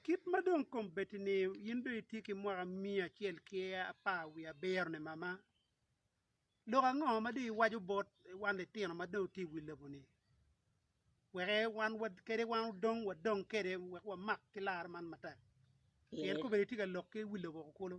Kit ma dong kombeddi-ni in dong itye ki mwaka miya acel ki apar wiye abiro-ni mama, lok ango ma dong iwaco bot wan litino ma dong watye i wi lobo-ni wek wan kadi wan odong wadong kwede wek wamak ki lar man matek pien kombeddi tye ka lok ki wi lobo kulu?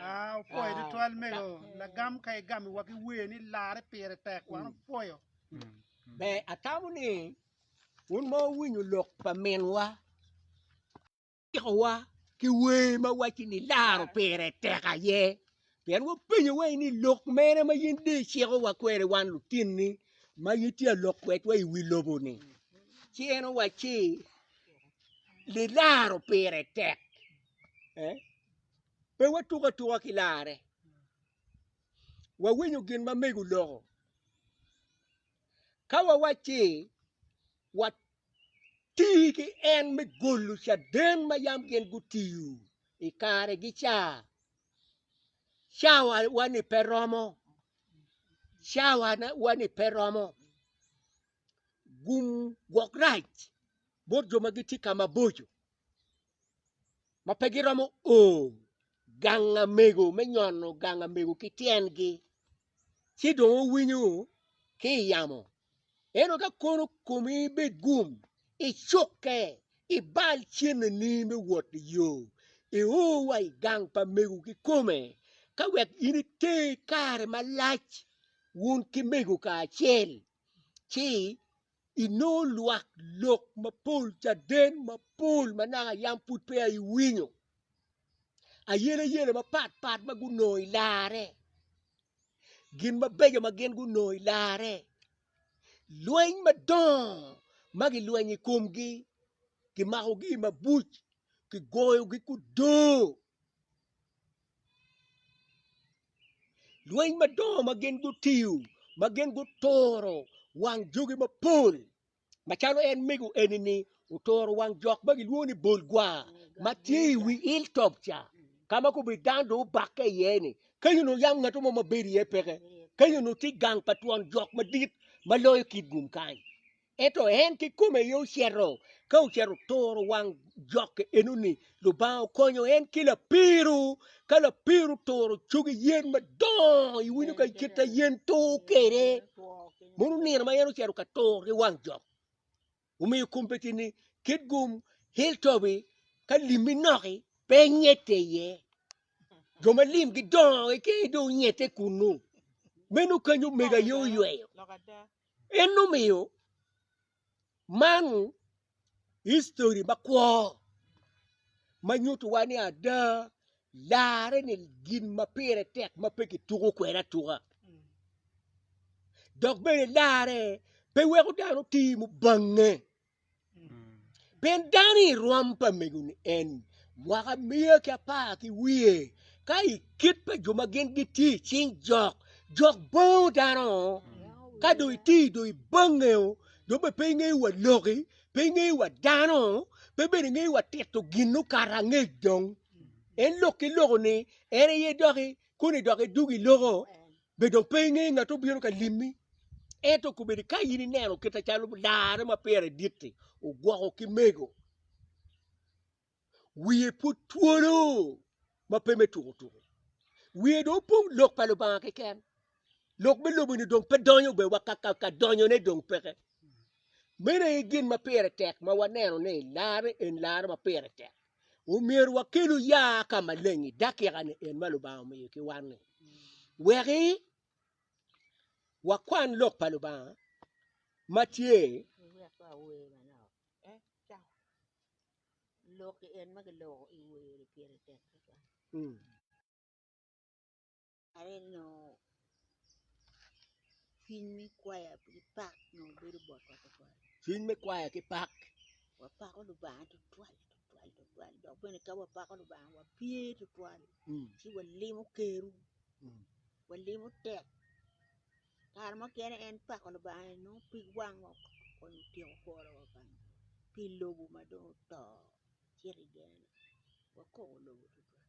Aa, opwoyo tutwal mego. Lagam ka igamo wa ki wer ni larre pire tek, wan opwoyo. Ber atamo ni wun ma wuwinyo lok pa minwa cikowa ki wer ma waci ni laro pire tek aye pien wapenyo wai ni lok mene ma yin de icikowa kwede wan lutinni ma yin tye alok kwedwa i wi lobo ni ci en owaci ni laro pire tek eh? Pe watuk atuka ki larre. Wawinyo gin ma mego loko. Ka wawacci wati ki en me golo caden ma yam gin gutiyo i kare gi ca, cawa wani pe romo, cawa wani pe romo. Gum gwok rac bot jo ma gitye ka maboco. ma pe giromo o ganga mego me nyono ganga mego ki tyengi ci dong owinyo ki i yamo eno ka kono komi bed gum icukke ibal cenneni me wot i yo io wa i gang pa mego kikome ka wek in ite kare malac wun ki mego kacel ci Inongo lwak lok mapol, caden mapol ma naka yam pud peya iwinyo, ayeleyele mapat pat ma gunongo i larre, gin mabeco ma gin gunongo i larre, lweny madongo ma gilwenyo i komgi, kimakogi i mabuc, kigoyogi kudo. Lweny madongo ma gin gutiyo, ma gin guturo wang jogi mapol, macalo en mego eni-ni oturo wang jok ma gilwongo ni Bolgwa ma tye i wi Hilltop ca, ka ma kobedo dano dong obakke iye-ni. Kenyo onongo yam ngat mo ma bedo iye peke. Kenyo onongo tye gang pa twon jok madit ma loyo kit gum kany. Ento en kikome aye ocito, ka ocito oturo wang jokke enoni, Lubanga okonyo en ki lapiru, ka lapiru turo cogi yen madongo, iwinyo ka kita yen tur kwede, mono nino ma en ocito ka tur ki wang jok. Omiyo kombeddi ni kit gum Hilltop-bi ka limmi noki pe nyette iye, jo ma lim gidongo keken dong nyette kunnu, meno kany omego aye oyweyo. En omiyo man histori makwo ma nyutuwa ni ada larre ni gin ma pire tek ma pe kituko kwede atuka dok bene larre pe weko dano ti mubange. Pien dano i rwom pa megone en, mwaka miya ki apar ki wiye, ka i kit pa jo ma gin gitye i cing jok, jok bango dano, ka dong itye dong ibange dong bene pe ingeyo wa loki, pe ingeyo wa dano, pe bene ingeyo wa tito gin okato angec dong, en lok ki lok-ni en aye doki koni dok idwogo iloko. Be dong pe ingeyo ngat obino ka limmi? Ento kobedo ka in ineno kite calo larre ma pire dit-ti ogwoko ki mego, wiye pud twolo ma pe me tuko tuko. Wiye dong opong lok pa Lubanga keken. Lok me lobo-ni dong pe donyo be wa ka, ka, ka donyone dong peke. Meno aye gin ma pire tek ma waneno ni larre en larre ma pire tek. omyero wakelu ya ka maleng i dakika-ni en ma Lubanga omiyo ki wan-ni, weki wakwan lok pa Lubanga ma tye i aneno cwiny me kwaya ki pak dong obedo bot wa tutwal cwiny me kwaya ki pak wapako Lubanga tutwal tutwal tutwal dok bene ka wapako Lubanga wapye tutwal mm. ci walimo keru mm. walimo tek kare mukene en pako Lubanga ni nongo pig wang wa kun otyeko kworo wa bang pi lobo ma dong oto ci rigeno wakobo lobo tutwal